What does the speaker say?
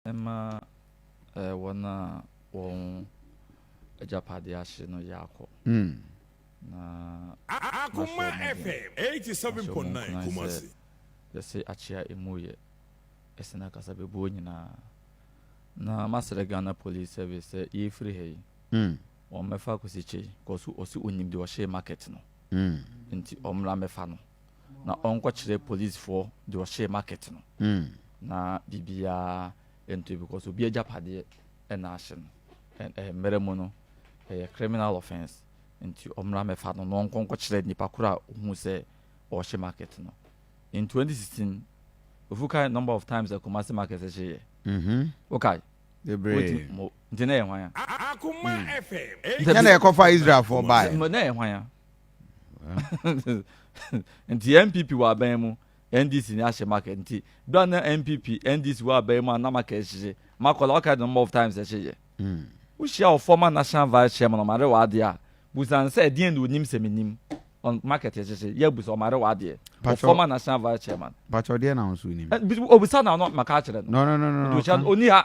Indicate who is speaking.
Speaker 1: Mma wɔn a wɔn agyapadeɛ ahye no yɛ akɔ, na mahyɛ
Speaker 2: wɔn den, mahyɛ wɔn nkuran sɛ yɛse akyea
Speaker 1: emu yɛ sene akasabebuo nyinaa, na masrɛ Ghana Police Service sɛ yɛrefiri ha yi, wɔmmɛfa Kwesi Kyei, cos ɔse ɔnim deɛ ɔhyɛɛ market no, nti ɔmmra mmɛfa no. na ɔnkɔkyerɛ policefoɔ deɛ ɔhyɛɛ market no na biribiara ntoe because obi agyapadeɛ na ahye no and ɛyɛ mmerɛ mu no ɛyɛ criminal offence nti ɔmmra mmɛfa no na ɔnkɔ nkɔkyerɛ nnipa korɔ a ɔhuu sɛ ɔrehye market no. In 2016 ofu kae number of times a Kumasi market hyeeɛ? Mhm. Wokae? Bebree.
Speaker 3: Wotumi mo nti na ɛyɛ hwan a?
Speaker 1: Akoma
Speaker 2: FM. Nti na ɛkɔfa
Speaker 3: Israelfoɔ baeɛ no? Na ɛyɛ hwan a?
Speaker 1: nti npp wɔ aban mu ndc ni ahyɛ market nti do a na npp ndc wɔ aban mu a na market hyehye makɔla ɔka the number of times ɛhyehye wohyia wɔ former national vice chairman ɔmare wɔ adeɛ a busan sɛ ɛdeɛn na onim sɛ menim on market ɛhyehye yɛ busa ɔmare wɔ adeɛ wɔ former national vice chairman patro deɛ na nso
Speaker 3: onim obisa na ɔno maka
Speaker 1: akyerɛ no no no no no
Speaker 3: oni ha